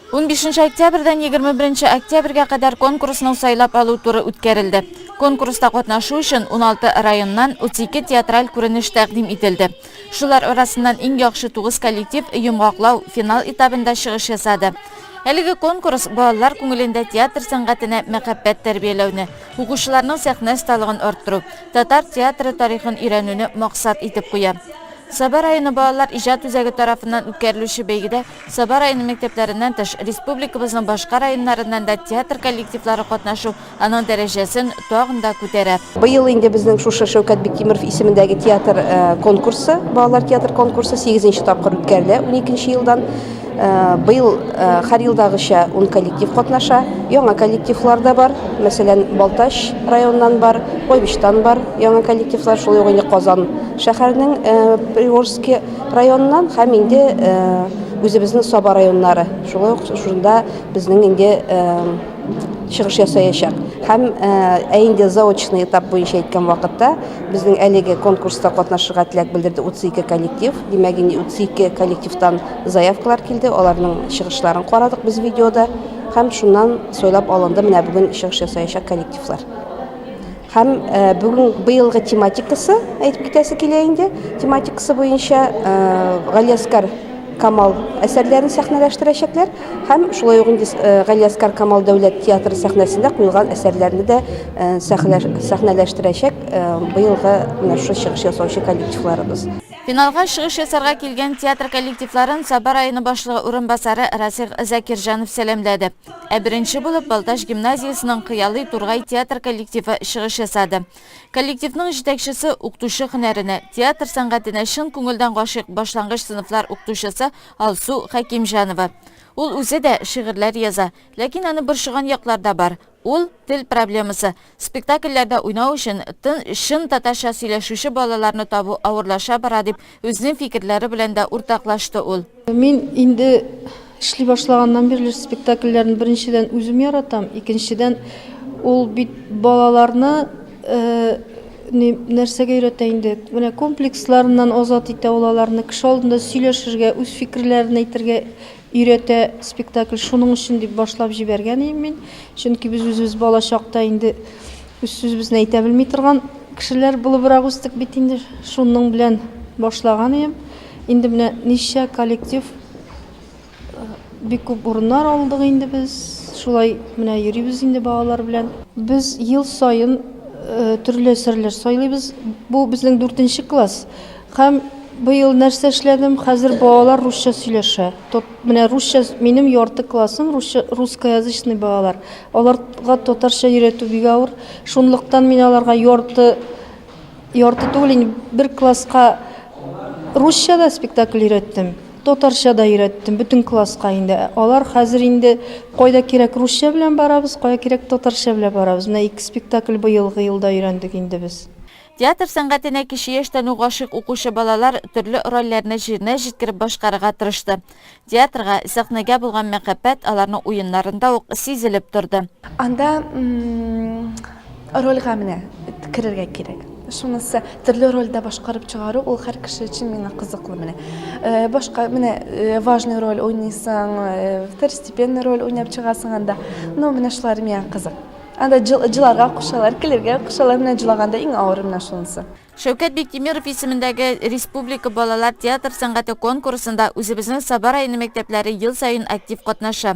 Унбишенче октябрьдән егерме беренче октябрьгә кадәр конкурсның сайлап алу туры үткәрелде. Конкурста катнашу өчен уналты районнан утыз ике театраль күренеш тәкъдим ителде. Шулар арасыннан иң яхшы тугыз коллектив йомгаклау, финал этабында чыгыш ясады. Әлеге конкурс балалар күңелендә театр сәнгатенә мәхәббәт тәрбияләүне, укучыларның сәхнә осталыгын арттыру, татар театры тарихын өйрәнүне максат итеп куя. Саба районы балалар иҗат үзәге тарафыннан үткәрелүче бәйгедә Саба районы мәктәпләреннән тыш, республикабызның башка районнарыннан да театр коллективлары катнашу аның дәрәҗәсен тагын да күтәрә. Быел инде безнең шушы Шәүкәт Биктимеров исемендәге театр конкурсы, балалар театр конкурсы сигезенче тапкыр үткәрелә, уникенче елдан. Быел һәр елдагыча ун коллектив катнаша. Яңа коллективлар да бар, мәсәлән, Балтач районыннан бар, Куйбычтан бар яңа коллективлар, шулай ук инде Казан шәһәренең Приорский. районыннан һәм инде үзебезнең Саба районнары шулай ук шунда безнең инде чыгыш ясаячак. Һәм ә инде заочный этап буенча әйткән вакытта безнең әлеге конкурста катнашырга теләк белдерде 32 коллектив. Димәк, инде 32 коллективтан заявкалар килде, аларның чыгышларын карадык без видеода һәм шуннан сайлап алынды менә бүген чыгыш ясаячак коллективлар. Һәм бүген быелгы тематикасы, әйтеп китәсе килә инде, тематикасы буенча Галиәскар Камал әсәрләрен сәхнәләштерәчәкләр һәм шулай ук инде Галиәскар Камал дәүләт театры сәхнәсендә куелган әсәрләрне дә сәхнәләштерәчәк быелгы менә шушы чыгыш ясаучы коллективларыбыз. Финалга чыгыш ясарга килгән театр коллективларын Саба районы башлыгы урынбасары Расих Закирҗанов сәламләде. Ә беренче булып Балтач гимназиясенең Кыялый Тургай театр коллективы чыгыш ясады. Коллективның җитәкчесе, укытучы һөнәренә, театр сәнгатенә чын күңелдән гашыйк башлангыч сыйныфлар укытучысы Алсу Хәкимҗанова. Ул үзе дә шигырьләр яза, ләкин аны борчыган яклар да бар. Ул, тел проблемасы, Спектакльләрдә уйнау өчен тын, чын татарча сөйләшүче балаларны табу авырлаша бара, дип үзенең фикерләре белән дә уртаклашты ул. Мин инде эшли башлаганнан бирле спектакльләрне беренчедән үзем яратам, икенчедән ул бит балаларны нәрсәгә өйрәтә инде, менә комплексларыннан азат итә ул аларны, кеше алдында сөйләшергә, үз фикерләрен әйтергә, Өйрәтә спектакль, шуның өчен дип башлап җибәргән идем мин. Чөнки без үзебез бала чакта инде үз сүзебезне әйтә белми торган кешеләр булыбрак үстек бит инде. Шуның белән башлаган идем. Инде менә ничә коллектив, бик күп урыннар алдык инде без. Шулай менә йөрибез инде балалар белән. Без ел саен төрле әсәрләр сайлыйбыз. Бу безнең дүртенче класс. Һәм быел нәрсә эшләдем? Хәзер балалар русча сөйләшә. Тот, менә русча, минем ярты классым русча, русскоязычный балалар. Аларга татарча өйрәтү бик авыр. Шунлыктан мин аларга ярты, ярты түгел, инде бер класска русча да спектакль өйрәттем, татарча да өйрәттем, бөтен класска инде. Алар хәзер инде кайда кирәк русча белән барабыз, кая кирәк татарча белән барабыз. Менә ике спектакль быелгы елда өйрәндек инде без. Театр сәнгатенә кече яшьтән үк гашыйк укучы балалар төрле рольләрне җиренә җиткереп башкарырга тырышты. Театрга, сәхнәгә булган мәхәббәт аларның уеннарында ук сизелеп торды. Анда рольгә менә керергә кирәк. Шунысы, төрле рольдә башкарып чыгару, ул һәр кеше өчен миңа кызыклы менә. Башка менә важный роль уйныйсың, второстепенный роль уйнап чыгасың анда. Ну, менә шулары миңа кызык. Анда җыларга кушалар, көләргә кушалар, менә җылаганда иң авыры менә шунысы. Шәүкәт Биктимеров исемендәге Республика балалар театр сәнгате конкурсында үзебезнең Саба районы мәктәпләре ел саен актив катнаша.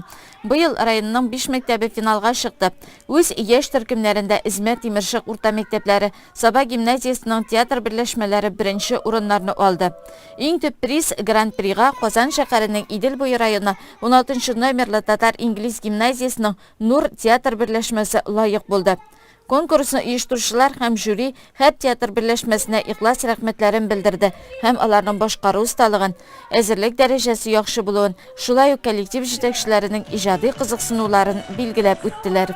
Быел районның биш мәктәбе финалга чыкты. Үз яшь төркемнәрендә Эзмә, Тимершык урта мәктәпләре, Саба гимназиясенең театр берләшмәләре беренче урыннарны алды. Иң төп приз, Гран-прига Казан шәһәренең Идел буе районы уналтынчы номерлы татар-инглиз гимназиясенең Нур театр берләшмәсе лаек булды. Конкурсны оештыручылар һәм жюри һәр театр берләшмәсенә ихлас рәхмәтләрен белдерде һәм аларның башкару осталыгын, әзерлек дәрәҗәсе яхшы булуын, шулай ук коллектив җитәкчеләренең иҗади кызыксынуларын билгеләп үттеләр.